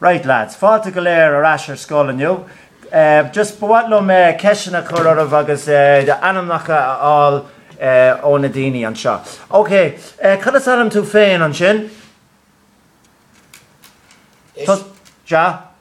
Right lads, fáilte go léir ar ais ar scoil inniu. Just ba mhaith liom ceisteanna a chur oraibh agus ainmneacha a fháil ó na daoine anseo. Ok, cad is ainm tú féin ansin? Sea.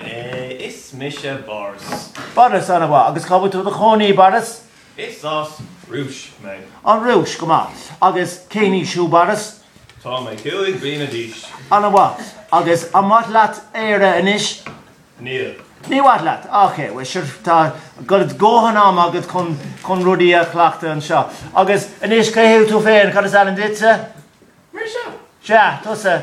Is mise Boris. Boris, an-mhaith. Agus cá bhfuil tú i do chónaí, Boris? Is as Rúis mé. An Rúis, go maith. Agus cén aois thú, Boris? Tá mé cúig bliana d'aois. An-mhaith. Agus an maith leat Éire anois? Níl. Ní maith leat? Ok, bhuel, sure, tá dóthain ama agat chun rudaí a chleachtadh anseo. Agus anois, cé thú féin? Cad is ainm duitse? Mise? Sea, tusa.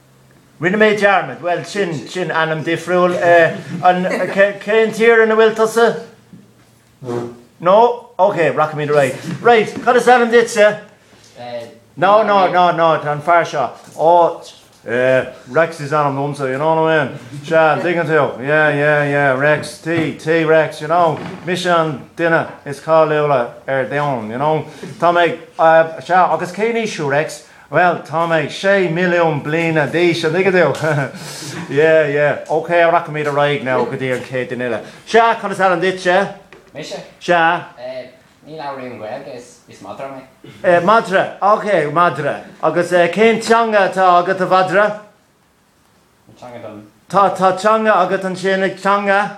Rinne mé dearmad, bhuel, sin, sin ainm difriúil. An, cén tír a bhfuil tusa? No? Ok, rachaimid ar aghaidh. Right, cad is ainm duitse? Ed. No, no, no, no, an fear seo. Ó, eh, Rex is ainm domsa, you know what I mean? Sea, dtuigeann tú. Yeah, yeah, yeah, Rex, T, T Rex, you know? Mise an duine is cáiliúla ar domhan, you know? Tá mé, eh, sea, agus cén aois thú, Rex? Bhuel, tá mé sé milliún bliana d'aois, an dtuigeann tú? Yeah, yeah. OK, rachaimid ar aghaidh now go dtí an chéad duine eile. Sea, cad is ainm duit? Mise? Sea. Eh, ní labhraím Gaeilge, is, is madra mé. Eh, madra. OK, madra. Agus eh, cén teanga atá agat, a mhadra? An teanga dom. Tá, tá teanga agat ansin, an teanga.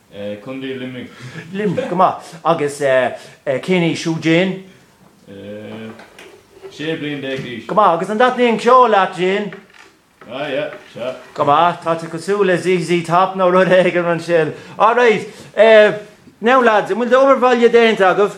Eh, Contae Luimnigh. Luimnigh, go maith. Agus eh, cén aois thú, Jane? Eh, 16 bliana d'aois. Go maith, agus an dtaitníonn ceol leat, Jane? Ah, yeah, sea. Go maith, tá tú cosúil le ZZ Top nó rud éigin ansin. All right, eh, now lads, an bhfuil d'obair bhaile déanta agaibh?